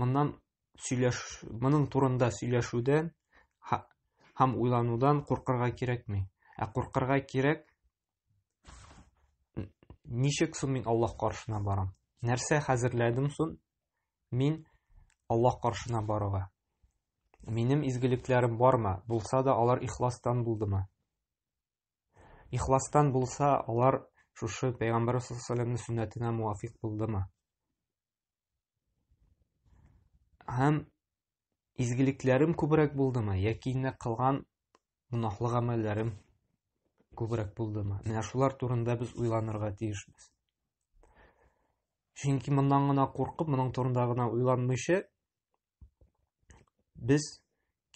моннан сөйләш моның турында сөйләшүдән һәм уйланудан куркырга кирәкми. Ә куркырга кирәк ничек соң мин Аллаһ каршына барам? Нәрсә хәзерләдем соң мин Аллаһ каршына баруга? Минем изгелекләрем бармы? Булса да алар ихластан булдымы? Ихластан булса, алар шушы пәйгамбәр саллаллаху алейһи ва сәлләмнең сөннәтенә муафик булдымы? һәм изгелекләрем күбрәк булдымы яки инде кылган гөнаһлы гамәлләрем күбрәк булдымы менә шулар турында без уйланырга тиешбез чөнки моннан гына куркып моның турында гына уйланмыйча без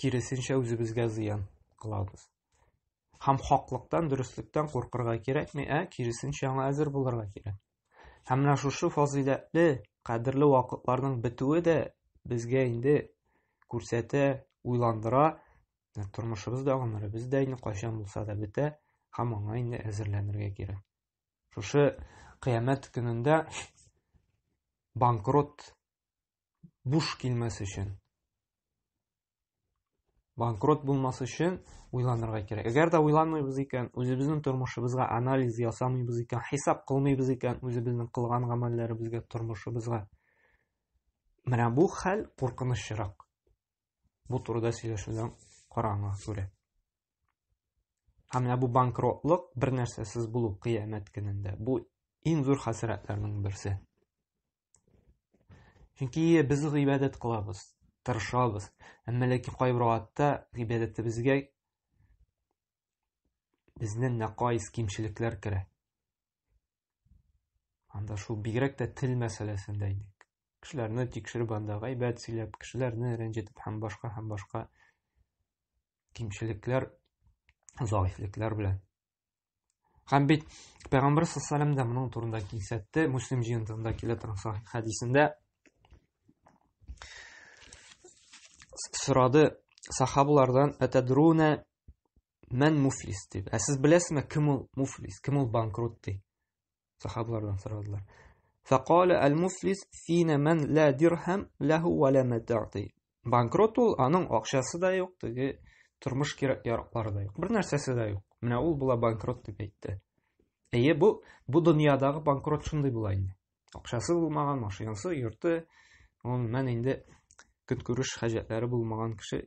киресенчә үзебезгә зыян кылабыз. Һәм хаклыктан, дөреслектән куркырга кирәкми, ә киресенчә аңа әзер булырга кирәк. Һәм менә шушы фазыйләтле, кадерле вакытларның бетүе дә безгә инде күрсәтә, уйландыра, тормышыбыз да гомеребез дә инде кайчан булса да бетә, һәм аңа инде әзерләнергә кирәк. Шушы кыямәт көнендә банкрот буш килмәс өчен банкрот булмас өчен уйланырга кирәк әгәр дә уйланмыйбыз икән үзебезнең тормышыбызга анализ ясамыйбыз икән хисап кылмыйбыз икән үзебезнең кылган гамәлләребезгә тормышыбызга менә бу хәл куркынычрак бу турыда сөйләшүдән караңа күрә һәм менә бу банкротлык бер нәрсәсез булу кыямәт көнендә бу иң зур хәсрәтләрнең берсе Чөнки без гыйбадәт кылабыз, тырышабыз. Әмма ләкин кайбер вакытта гыйбадәтебезгә безнең нәкайс кимчелекләр керә. Анда шул бигрәк тә тел мәсьәләсендә инде кешеләрне тикшереп анда гайбәт сөйләп кешеләрне рәнҗетеп һәм башка һәм башка кимчелекләр заифлекләр белән Һәм бит Пәйгамбәр саллаллаху да моның турында кисәтте, Муслим җыентыгында килә торган сахих хәдисендә сорады сахабалардан атадруна мән муфлис дип. Ә сез беләсезме, кем ул муфлис, кем ул банкрот ди? сахабалардан сорадылар. Фәкале әл-муфлис фина мән лә дирхам ләһу ва лә матаъти. Банкрот ул, аның акчасы да юк, теге тормыш кирәк-яраклары да юк. Бер нәрсәсе дә юк. Менә ул була банкрот дип әйтте. Әйе, бу бу дөньядагы банкрот шундый була инде. Акчасы булмаган, машинасы, йорты, он мән инде көнкүреш хаҗәтләре булмаган кеше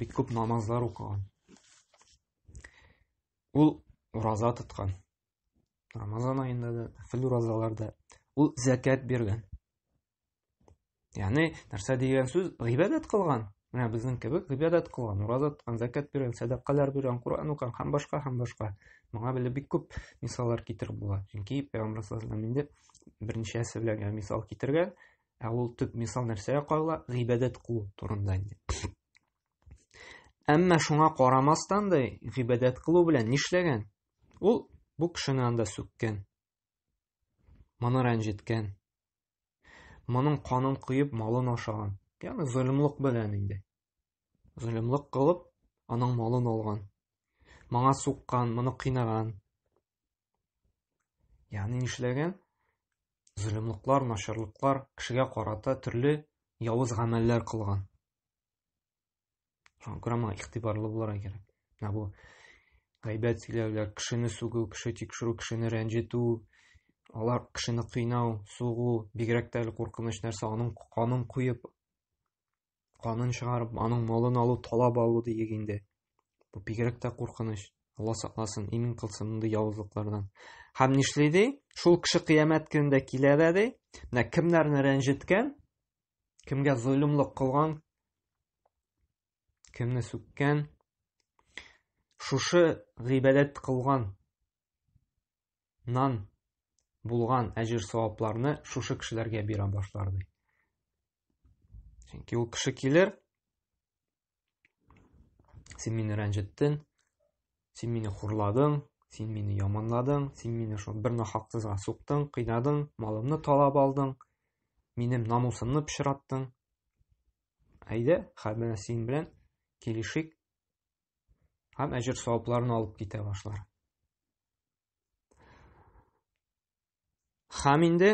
бик күп намазлар укыган. Ул ураза тоткан. Рамазан аенда да, фил уразаларда ул зәкәт биргән. Ягъни, нәрсә дигән сүз? Гыйбадәт кылган. Менә безнең кебек гыйбадәт кылган, ураза тоткан, зәкәт биргән, сәдакалар биргән, Куран укыган һәм башка һәм башка. Моңа беле бик күп мисаллар китереп була. Чөнки Пәйгамбәр саллаллаһу алейһи ва берничәсе белән мисал китергән, Ә ул төп мисал нәрсәгә кагыла? Гыйбадәт кылу турында инде. Әмма шуңа карамастан да гыйбадәт кылу белән нишләгән? Ул бу кешене анда сүккән. Моны рәнҗеткән. Моның канын куеп, малын ашаган. Ягъни золымлык белән инде. Золымлык кылып, аның малын алган. Моңа суккан, моны кыйнаган. Ягъни нишләгән? Зөлемлыклар, начарлыклар, кешегә карата төрле явыз гамәлләр кылган. Шуңа күрә моңа игътибарлы булырга кирәк. Менә бу гайбәт сөйләүләр, кешене сүгү, кеше тикшерү, кешене рәнҗетү, алар кешене кыйнау, сугу, бигрәк тә әле куркыныч нәрсә, аның канын куеп Канын чыгарып, аның малын алу, талап алу диек инде. Бу бигрәк тә куркыныч. Алла сакласын, имин кылсын мондый явызлыклардан. Һәм нишли ди? Шул кеше кыямәт көнендә килә дә ди, менә кемнәрне рәнҗеткән, кемгә золымлык кылган, кемне сүккән, шушы гыйбадәт кылган нан булган әҗер-савапларны шушы кешеләргә бирә башлар ди. Чөнки ул кеше килер, син мине рәнҗеттең, син мине хурладың, син мине яманладың, син мине шул бер нахаксызга суктың, кыйнадың, малымны талап алдың, минем намусымны пычраттың. Әйдә, хәбәр син белән килешик, һәм әҗер савапларын алып китә башлар. Хәм инде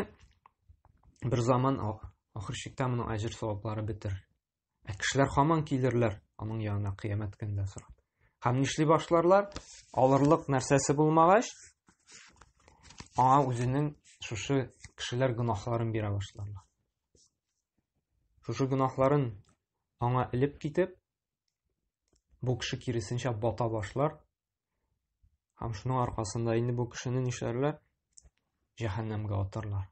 бер заман ахыр чиктә моның әҗер саваплары бетер. Ә кешеләр хаман килерләр аның янына кыямәт көндә сорап. Хәм нишли башларлар? Алырлык нәрсәсе булмагач, аңа үзенең шушы кешеләр гөнаһларын бирә башларлар. Шушы гөнаһларын аңа элеп китеп, бу кеше киресенчә бата башлар һәм шуның аркасында инде бу кешене нишләрләр җәһәннәмгә атарлар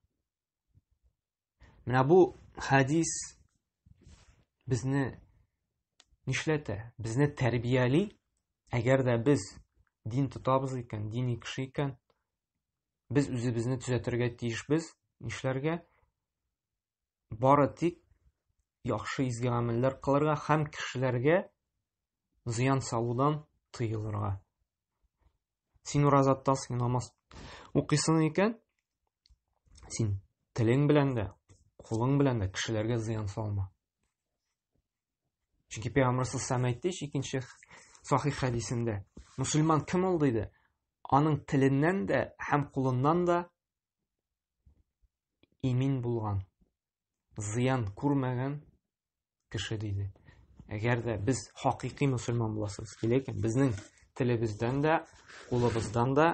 менә бу хәдис безне нишләтә безне тәрбияли әгәр дә без дин тотабыз икән дини кеше икән без үзебезне төзәтергә тиешбез нишләргә бары тик яхшы изге гамәлләр кылырга һәм кешеләргә зыян салудан тыелырга. Син ураза тотасың, намаз укыйсың икән, син телең белән дә, кулың белән дә кешеләргә зыян салма. Чөнки Пәйгамбәр сәлләм әйтте икенче сахих хәдисендә, мусульман кем ул диде? Аның теленнән дә һәм кулыннан да имин булган, зыян күрмәгән кеше диде. Әгәр дә без хакыйкый мусульман буласыбыз килә икән, безнең телебездән дә, кулыбыздан да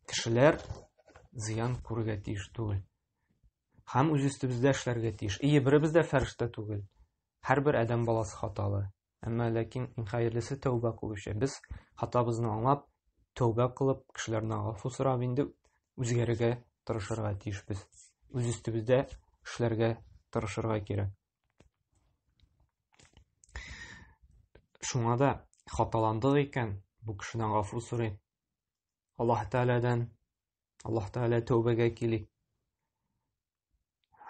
кешеләр зыян күрергә тиеш түгел. Һәм үз өстебездә эшләргә тиеш. Ие, беребез дә фәрештә түгел. Һәрбер адәм баласы хаталы. Әмма ләкин иң хәерлесе тәүбә кылучы. Без хатабызны аңлап, тәүбә кылып, кешеләрдән гафу сорап инде үзгәрергә тырышырга тиешбез. Үз өстебездә эшләргә тырышырга кирәк. Шуңа да хаталандык икән, бу кешедән гафу сорый. Аллаһ Тәгаләдән, Аллаһ Тәгалә тәүбәгә килик.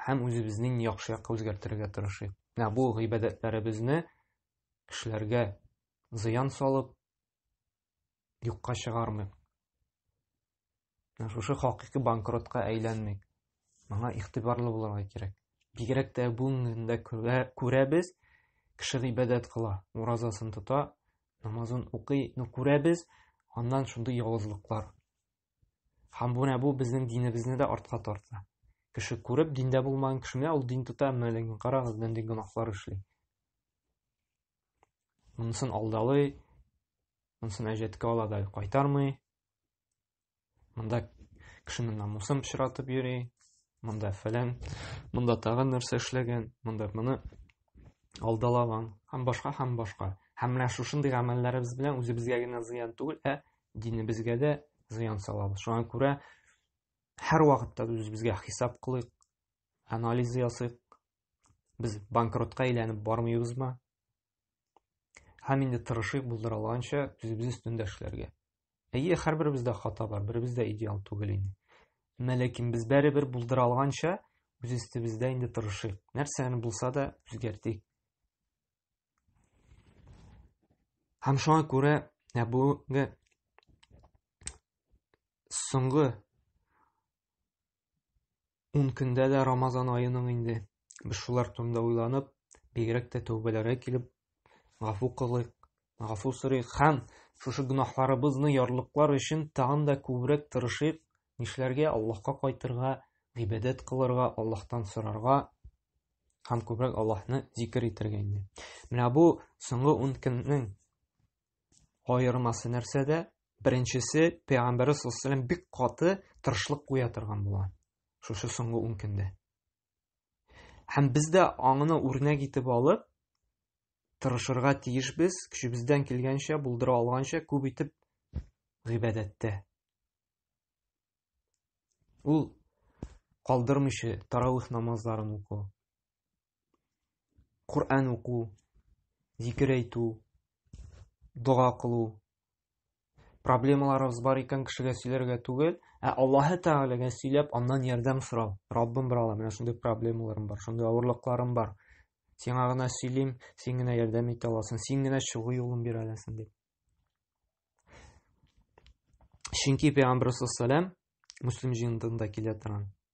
һәм үзебезнең яхшы якка үзгәртергә тырышыйк. Менә бу гыйбадәтләребезне кешеләргә зыян салып юкка чыгармыйк. Шушы хакыйкы банкротка әйләнмик. Моңа игътибарлы булырга кирәк. Бигрәк тә бүгенгендә күрәбез, кеше гыйбадәт кыла, уразасын тота, намазын укый, но күрәбез, аннан шундый явызлыклар Һәм бу нә бу безнең динебезне дә артка тарта. Кеше күреп, диндә булмаган кеше менә ул дин тота, менә ләкин карагыз, нинди гөнаһлар эшли. Монысын алдалый, монысын әҗәткә ала да кайтармый. Монда кешенең намусын пычратып йөри, монда фәлән, монда тагын нәрсә эшләгән, монда моны алдалаган, һәм башка һәм башка. Һәм менә шушындый гамәлләребез белән үзебезгә генә зыян түгел, ә динебезгә дә зыян салабыз. Шуңа күрә һәр вакытта үзебезгә хисап кылыйк, анализ ясыйк. Без банкротка әйләнеп бармыйбызмы? Һәм инде тырышыйк булдыра алганча үзебез өстендә эшләргә. Әйе, һәрберебездә хата бар, беребез дә идеал түгел инде. Әмма ләкин без бәребер булдыра алганча үз өстебездә инде тырышыйк. Нәрсәне булса да үзгәртик. Һәм шуңа күрә ә бүгенге соңгы Ун көндә дә Рамазан аеның инде. Без шулар турында уйланып, бигрәк тә тәүбәләргә килеп, гафу кылыйк, гафу сорыйк һәм шушы гөнаһларыбызны ярлыклар өчен тагын да күбрәк тырышыйк, нишләргә Аллаһка кайтырга, гыйбадәт кылырга, Аллаһтан сорарга һәм күбрәк Аллаһны зикер итәргә инде. Менә бу соңгы 10 көннең Аермасы нәрсәдә? Беренчесе, пәйгамбәр саллаллаху бик каты тырышлык куя торган була. Шушы соңгы 10 көндә. Һәм без дә аңыны үрнәк итеп алып, тырышырга тиешбез, көчебездән килгәнчә, булдыра алганча күп итеп гыйбадәттә. Ул калдырмыйча таравих намазларын уку. Коръән уку, зикер әйтү, дога кылу. Проблемаларыбыз бар икән кешегә сөйләргә түгел, ә Аллаһы Тәгаләгә сөйләп, аннан ярдәм сорау. Раббым брала, менә шундый проблемаларым бар, шундый авырлыкларым бар. Сиңа гына сөйлим, син генә ярдәм итә аласың, син генә чыгу юлын бирә аласың дип. Чөнки Пәйгамбер саллаллаһу алейһи ва саллям Муслим җыентыгында килә торган.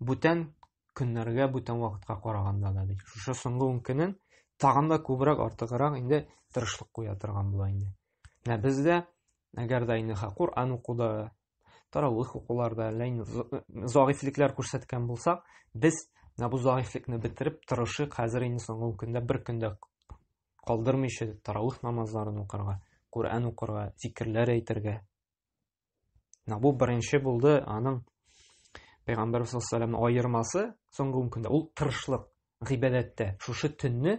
бүтән көннәргә, бүтән вакытка караганда да ди. Шушы соңгы 10 көнен тагын да күбрәк артыграк инде тырышлык куя торган була инде. Менә бездә әгәр дә инде Коран укуда, таравих укуларда ләйн загыйфлекләр күрсәткән булсак, без менә бу загыйфлекне бетереп тырышык хәзер инде соңгы көндә бер көндә калдырмыйча таравих намазларын укырга, Коран укырга, зикерләр әйтергә. Бу беренче булды аның Пәйгамбәр саллаллаху алейһи аермасы соңгы ун көндә ул тырышлык гыйбадәттә. Шушы төнне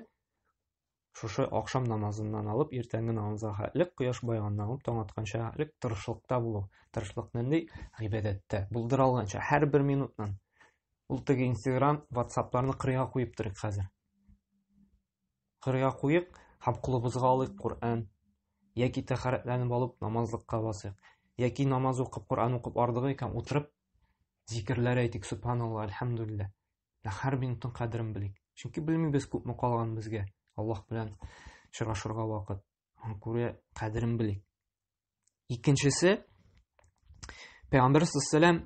шушы акшам намазыннан алып иртәнге намазга хәтлек кояш байганнан алып таң атканча хәтлек тырышлыкта булу. Тырышлык нинди? Гыйбадәттә. Булдыра алганча һәр бер минутнан. Ул теге Instagram, WhatsApp-ларны кырыйга куеп торыйк хәзер. Кырга куйык һәм кулыбызга алыйк Коръән. Яки тәхәрәтләнеп алып намазлыкка басыйк. Яки намаз укып Коръән укып ардыгы икән утырып зикерләр әйтик, субханалла, әлхәмдулилла. Һәр минутның кадерен белик. Чөнки белмибез күпме калган безгә Аллаһ белән очрашырга вакыт. Һәм күрә кадерен белик. Икенчесе Пәйгамбер саллаллаһу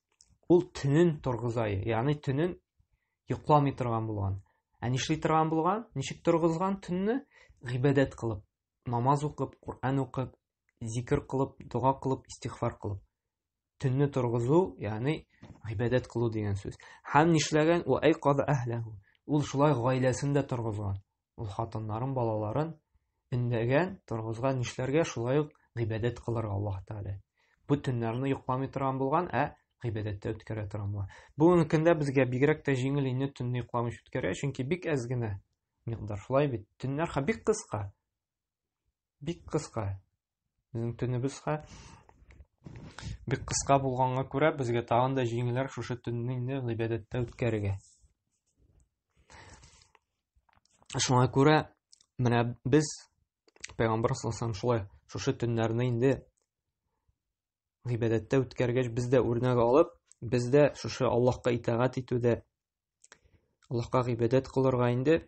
ул төнен торгызай, ягъни төнен йокламый торган булган. Ә нишли торган булган? Ничек торгызган төнне? Гыйбадәт кылып, намаз укып, Коръән укып, зикр кылып, дога кылып, истихфар кылып. Төнне торгызу, ягъни гыйбадәт кылу дигән сүз. Һәм нишләгән? Ва ай каз әһләһу. Ул шулай гаиләсен дә торгызган. Ул хатыннарын, балаларын өндәгән, торгызган нишләргә, шулай ук гыйбадәт кылырга Аллаһ Тәгалә. Бу төннәрне йоклами торган булган, ә гыйбадәттә үткәрә торган булган. Бүгенге көндә безгә бигрәк тә җиңел инде төнне йокламыйча үткәрә, чөнки бик әз генә микъдар. Шулай бит, төннәр бик кыска. Бик кыска. Безнең төнебезгә бик кыска булганга күрә, безгә тагын да җиңеләр шушы төнне инде гыйбадәттә үткәрергә. Шуңа күрә менә без Пәйгамбәр саллаллаху шулай шушы төннәрне инде гыйбадәттә үткәргәч без дә үрнәк алып без дә шушы аллаһка итагать итүдә аллаһка гыйбадәт кылырга инде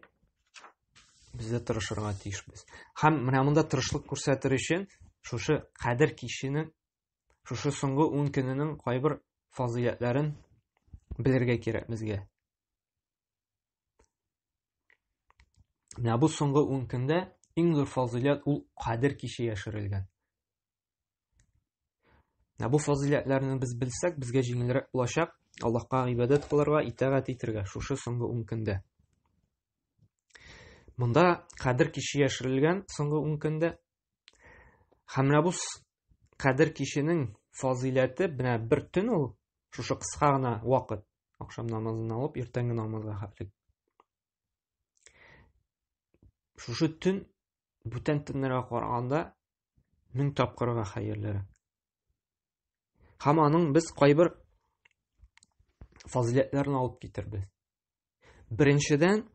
без дә тырышырга тиешбез һәм менә монда тырышлык күрсәтер өчен шушы кадер киченең шушы соңгы ун көненең кайбер фазыйләтләрен белергә кирәк безгә менә бу соңгы ун көндә иң зур фазыйләт ул кадер киче яшерелгән Ә бу фазыйләтләрне без белсәк, безгә җиңелрәк булачак Аллаһка гыйбадәт кылырга, итагать итәргә шушы соңгы ун көндә. Монда кадер кичи яшерелгән соңгы ун көндә. Һәм бу кадер кичинең фазыйләте менә бер төн ул, шушы кыска гына вакыт, акшам намазын алып, иртәнге намазга хәтле. шушы төн бүтән төннәргә караганда мең тапкырга хәерлерәк һәм аның без кайбер фазиләтләрен алып китербез беренчедән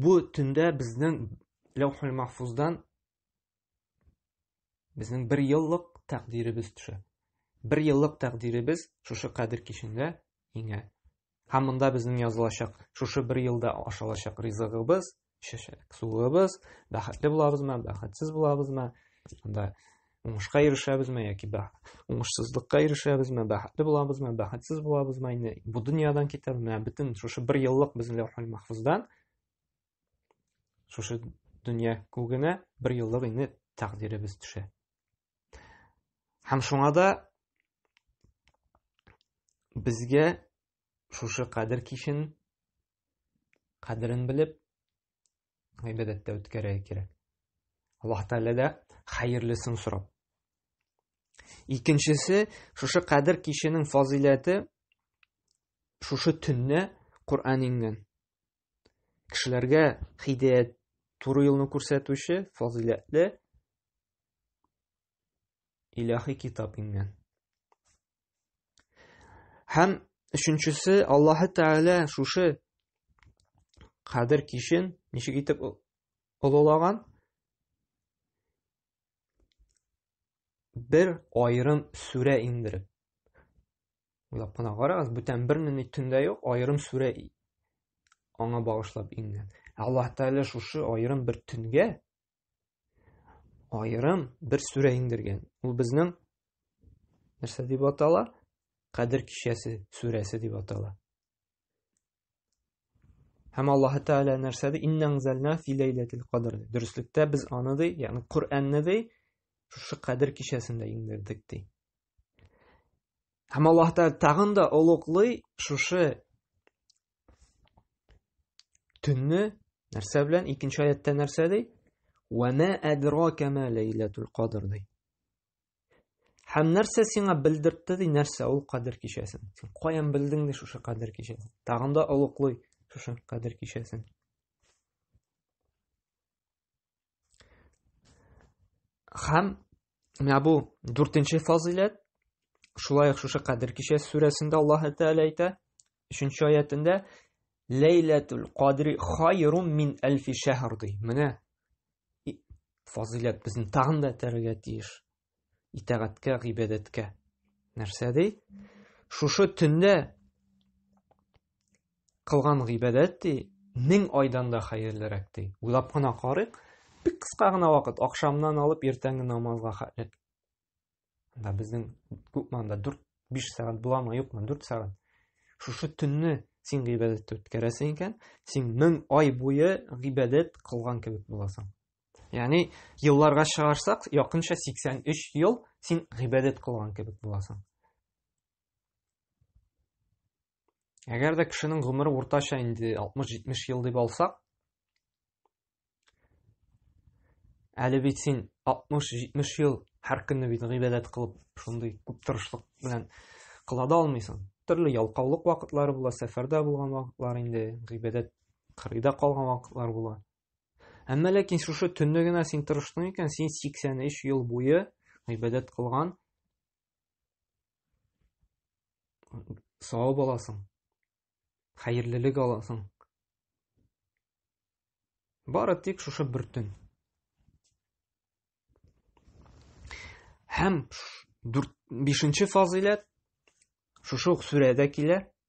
бу төндә безнең ләүхул махфуздан Безнең бер еллык тәкъдиребез төшә. Бер еллык тәкъдиребез шушы кадер кичендә иңә. Һәм монда безнең язылачак, шушы бер елда ашалачак ризыгыбыз, чәчәк суыбыз, бәхетле булабызмы, бәхетсез булабызмы, анда уңышка ирешәбезме яки бә уңышсызлыкка ирешәбезме, бәхетле булабызмы, бәхетсез булабызмы, инде бу дөньядан китәбезме, бөтен шушы бер еллык безнең ләүхул махфуздан Шушы дөнья күгенә бер еллык инде тәкъдиребез төшә. Һәм шуңа да безгә шушы кадер кичен кадерен белеп гыйбадәттә үткәрә кирәк. Аллаһ Тәгалә дә хәерлесен сорап. Икенчесе, шушы кадер киченең фазыйләте шушы төнне Коръән иңгән. кешеләргә хидәят туры юлны күрсәтүче фазыйләтле илаһи китап иңгән һәм өченчесе аллаһы тәгалә шушы кадер кичен ничек итеп олылаган бер айрым сүрә иңдереп Уйлап кына карагыз, бүтән бер ни төндә юк, аерым сүрә аңа багышлап иңгән. Ә Аллаһ Тәгалә шушы аерым бер төнгә аерым бер сүрә иңдергән. Ул безнең нәрсә дип атала? Кадер кичәсе сүрәсе дип атала. Һәм Аллаһ Тәгалә нәрсә ди? Инна анзална фи ләйләтил кадр. Дөреслектә без аны ди, ягъни Коръәнне ди, шушы кадр кичәсендә иңдердек ди. Һәм Аллаһ Тәгалә тагын да олуглый шушы төнне нәрсә белән? Икенче аятта нәрсә ди? Ва ма адрака ма ләйләтул кадр ди. Һәм нәрсә сиңа белдертте ди, нәрсә ул кадер кичәсен? Син каян белдең ди шушы кадер кичәсен? Тагын да олуглый шушы кадер кичәсен. Һәм менә бу дүртенче фазиләт шулай ук шушы кадер кичәсе сүрәсендә Аллаһ Тәгалә әйтә, 3 аятында Ләйләтул кадри хайрун мин әлфи шәһр ди. Менә фазыйләт безне тагын да этәрергә тиеш итәгатькә гыйбадәткә нәрсә ди шушы төндә кылган гыйбадәт ди мең айдан да хәерлерәк ди уйлап кына карыйк бик кыска гына вакыт акшамнан алып иртәнге намазга хәтле да безнең күпманда дүрт биш сәгать буламы юкмы дүрт сәгать шушы төнне син гыйбадәттә үткәрәсең икән син мең ай буе гыйбадәт кылган кебек буласың яғни елларга чыгарсак якынча 83 ел син гыйбадәт кылган кебек буласың Әгәр дә кешенең гомере уртача инде 60-70 ел дип алсак, әле бит син 60-70 ел һәр көнне бит гыйбадәт кылып, шундый күп тырышлык белән кыла да алмыйсың. Төрле ялкаулык вакытлары була, сәфәрдә булган вакытлар инде, гыйбадәт кырыйда калган вакытлар була. Әмма ләкин шушы төнне генә син тырыштың икән, син 83 ел буе гыйбадәт кылган, савап аласың хәерлелек аласың бары тик шушы бер төн һәм дүрт бишенче фазыйләт шушы ук сүрәдә килә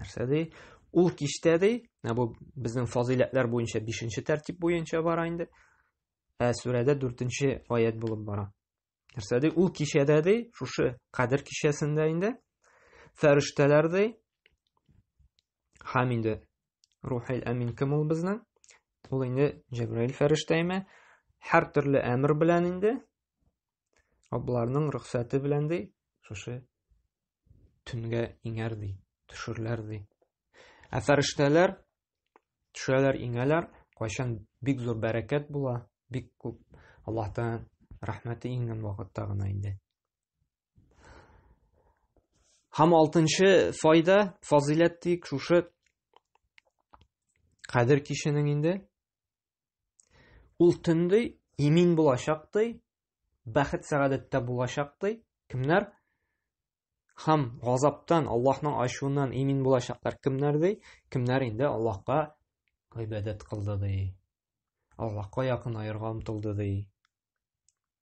нәрсә ди ул киштә ди ә бу безнең фазыйләтләр буенча бишенче тәртип буенча бара инде ә сүрәдә дүртенче аят булып бара нәрсә ди ул кичәдә ди шушы кадер кичәсендә инде фәрештәләр ди һәм инде рухил әмин кем ул безнең ул инде җәбраил фәрештәме һәр төрле әмер белән инде Абларның рөхсәте белән ди, шушы төнгә иңәр ди, төшерләр ди. Ә фәрештәләр төшәләр, иңәләр, кайчан бик зур бәрәкәт була, бик күп Аллаһтан рәхмәте иңгән вакытта гына инде. Һәм алтынчы файда, фазыйләт дик, шушы кадер киченең инде Ул төндей имин булачактай, бәхет сәгадәттә булачактай, кемнәр һәм газаптан, Аллаһның ачуыннан имин булачаклар кемнәр ди? Кемнәр инде Аллаһка гыйбадәт кылды ди? Аллаһка якын аерга омтылды ди?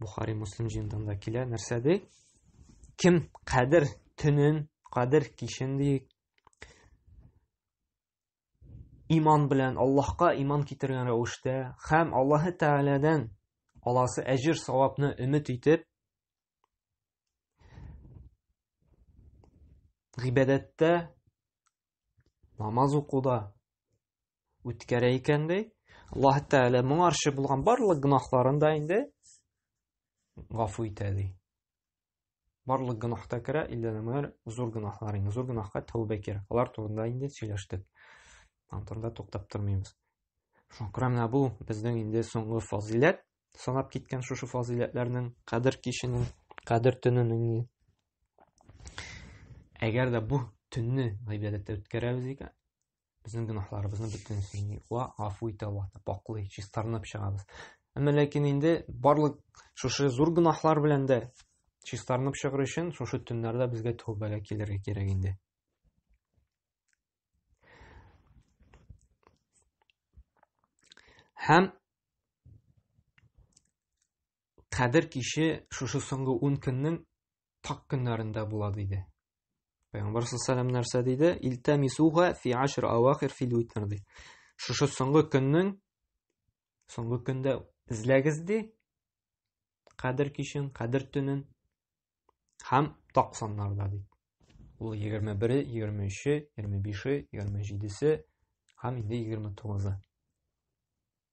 Бухари Муслим җыентыгында да килә. Нәрсә ди? Кем кадер төнен, кадер кичен ди иман белән Аллаһка иман китергән рәвештә һәм Аллаһ Тәгаләдән аласы әҗир савапны өмет итеп гыйбадәттә намаз укуда үткәрә икән ди. Аллаһ Тәгалә моңарчы булган барлык гөнаһларын да инде гафу итә ди. Барлык гөнаһта керә, илләнәмәр зур гөнаһлар инде. Зур гөнаһка тәүбә кирәк. Алар турында инде сөйләштек. Антында туктап тормыйбыз. Шуңа менә бу безнең инде соңгы фазиләт, санап киткән шушы фазиләтләрнең кадер киченең, кадер төненең. Әгәр дә бу төнне гыйбадәттә үткәрәбез икән, безнең гөнаһларыбызны бөтенесен юа гафу итә аллаһны пакълый чистарынып чыгабыз әмма ләкин инде барлык шушы зур гөнаһлар белән дә чистарынып чыгыр өчен шушы төннәрдә безгә тәүбәгә килергә кирәк инде һәм кадер киче шушы соңгы ун көннең так көннәрендә була диде. Пәйгамбәр саллаллаху нәрсә диде? Илтамисуга фи ашр авахир фил витр ди. Шушы соңгы көннең соңгы көндә эзләгез ди. Кадер кичен, кадер төнен һәм так саннарда ди. Ул 21, 23, 25, 27 һәм инде 29.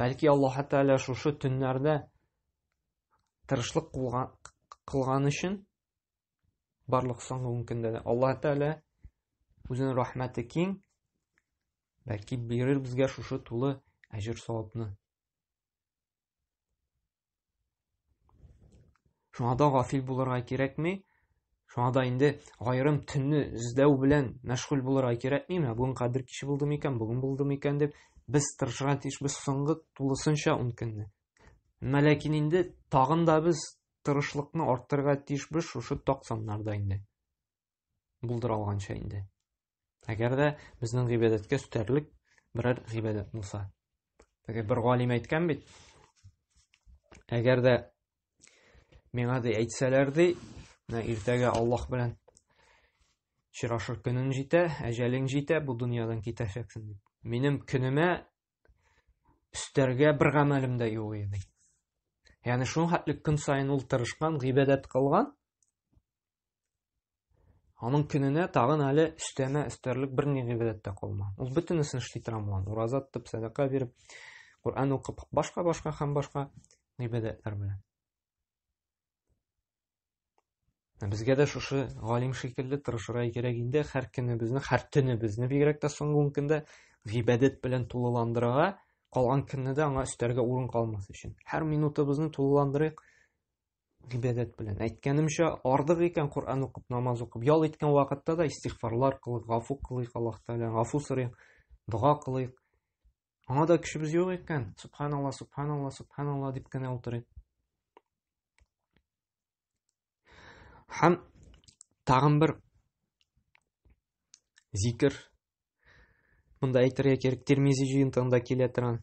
Бәлки Аллаһ Тәгалә шушы төннәрдә тырышлык кылган өчен барлык соңгы ун көндә дә Аллаһ Тәгалә үзенең рәхмәте киң, бәлки бирер безгә шушы тулы әҗер савапны. Шуңа да гафил булырга кирәкми. Шуңа да инде айрым төнне эзләү белән мәшгуль булырга кирәкми. Менә бүген кадер кичи булды микән, бүген булды микән дип без тырышырга тиеш без соңгы тулысынча ун көнне. Әмма ләкин инде тагын да без тырышлыкны арттырырга тиешбез шушы ток саннарда инде. Булдыра алганча инде. Әгәр дә безнең гыйбадәткә өстәрлек берәр гыйбадәт булса. Теге бер галим әйткән бит. Әгәр дә миңа ди әйтсәләр ди, менә иртәгә Аллаһ белән чирашыр көнең җитә, әҗәлең җитә, бу дөньядан китәчәксең дип. Минем көнемә өстәргә бер гамәлем дә юк иде. Ягъни шуның хәтле көн саен ул тырышкан, гыйбадәт кылган, Аның көненә тагын әле өстәмә өстәрлек бер ни гыйбадәт тә калмый. Ул бөтенесен эшли тора булган. Ураза тотып, сәдака биреп, Коръән укып, башка-башка һәм башка гыйбадәтләр белән. Ә безгә дә шушы галим шикелле тырышырга кирәк инде, һәр көнебезне, һәр төнебезне бигрәк тә соңгы ун көндә гыйбадәт белән тулыландырырга, калган көнне дә аңа өстәргә урын калмас өчен. Һәр минутыбызны тулыландырыйк, гыйбадәт белән. Әйткәнемчә, ардык икән Коръән укып, намаз укып, ял иткән вакытта да истигъфарлар кылыйк, гафу кылыйк Аллаһ Тәгаләдән, гафу сорыйк, дога кылыйк. Аңа да көчебез юк икән, субханалла, субханалла, субханалла дип кенә утырыйк. Һәм тагын бер зикер. Монда әйтергә кирәк, Тирмизи җыентыгында килә торган.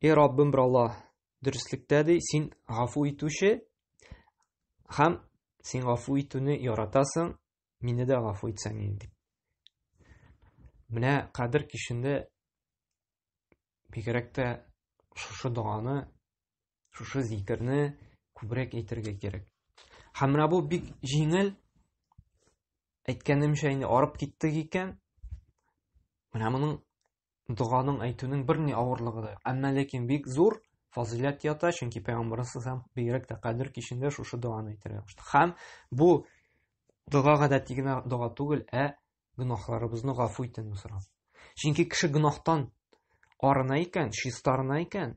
И Раббым бер Аллаһ, дөреслектә ди, син гафу итүче һәм син гафу итүне яратасың, мине дә гафу итсәң инде. Менә кадер кичендә бигрәк тә шушы доганы, шушы зикерне күбрәк әйтергә кирәк. Һәм менә бу бик җиңел. Әйткәнемчә инде арып киттек икән. Менә моның доганың әйтүнең берни авырлыгы да. Әмма ләкин бик зур фазыйләт ята, чөнки пәйгамбәрбез һәм бигрәк тә кадер кичендә шушы доганы әйтергә кушты. Һәм бу дога гадәти генә дога түгел, ә гөнаһларыбызны гафу итүне сорау. Чөнки кеше гөнаһтан арына икән, чистарына икән,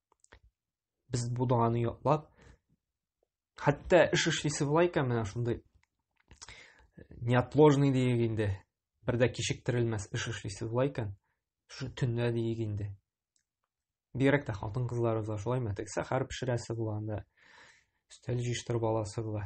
Без бу доганы ятлап, хәтта эш эшлисе була икән менә шундый э, неотложный диек инде. Бер дә кичектерелмәс эш эшлисе була икән, шу төнлә диек инде. Бигрәк тә хатын кызларыбызга шулаймы? Тегесе хәр пешерәсе була анда. Өстәл җыештырып аласы була.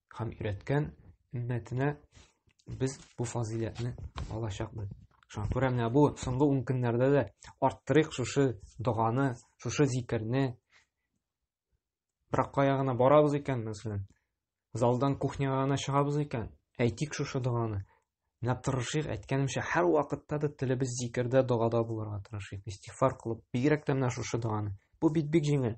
һәм өйрәткән өммәтенә без бу фазыйләтне алачакбыз. Шуңа күрә менә бу соңгы ун көннәрдә дә арттырыйк шушы доганы, шушы зикерне. Бирак кая гына барабыз икән, мәсәлән, залдан кухняга гына чыгабыз икән, әйтик шушы доганы. Менә тырышыйк, әйткәнемчә, һәр вакытта да телебез зикердә, догада булырга тырышыйк. Истигъфар кылып, бигрәк тә менә шушы доганы. Бу бит бик җиңел.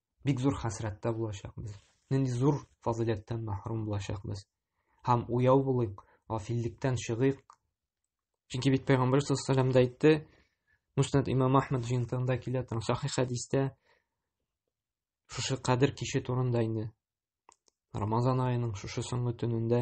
бик зур хәсрәттә булачакбыз нинди зур фазыйләттән мәхрүм булачакбыз һәм уяу булыйк гафиллектән чыгыйк чөнки бит пәйгамбәр саллаллаху алейһи да әйтте муснад имам ахмад җыентыгында килә торган сахих хәдистә шушы кадер киче турында инде рамазан аеның шушы соңгы төнендә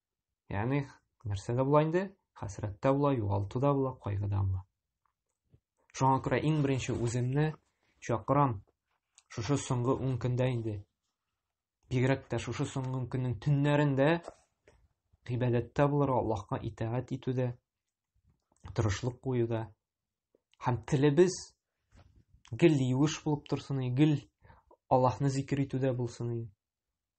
Ягъни нәрсә дә була инде? Хәсрәт тә була, югалту да була, кайгы да була. Шуңа күрә иң беренче үземне чакырам. Шушы соңгы 10 көндә инде. Бигрәк тә шушы соңгы көннең төннәрендә гыйбадәттә булырга, Аллаһка итагать итүдә, тырышлык куюда һәм телебез гел юеш булып торсын, гел Аллаһны зикер итүдә булсын.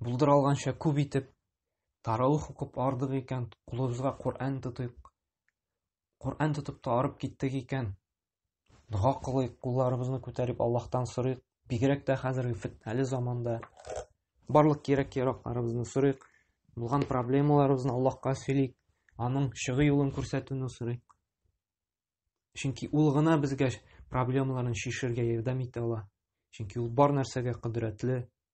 булдыра алганча күп итеп тараух укып ардык икән, кулыбызга Коръән тотыйк. Коръән тотып та арып киттек икән, дога кылыйк, кулларыбызны күтәреп Аллаһтан сорыйк. Бигрәк тә хәзерге фетнәле заманда барлык кирәк-яракларыбызны сорыйк, булган проблемаларыбызны Аллаһка сөйлик, аның чыгу юлын күрсәтүне сорыйк. Чөнки ул гына безгә проблемаларын шешергә ярдәм итә ала. Чөнки ул бар нәрсәгә кодрәтле,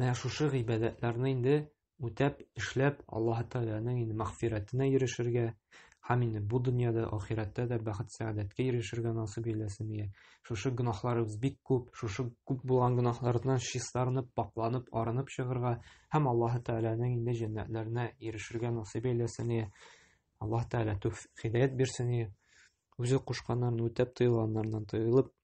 Менә шушы гыйбадәтләрне инде үтәп, эшләп, Аллаһ Тәгаләнең инде мәгъфирәтенә ирешергә, һәм инде бу дөньяда, ахирәттә дә бәхет сәгадәткә ирешергә насыйп илләсен ия. Шушы гөнаһларыбыз бик күп, шушы күп булган гөнаһлардан чистарынып, пакланып, арынып чыгырга һәм Аллаһ Тәгаләнең инде җәннәтләренә ирешергә насыйп илләсен ия. Аллаһ Тәгалә тәүфик хидәят бирсен ия. Үзе кушканнарын үтәп, тыелганнардан тыелып,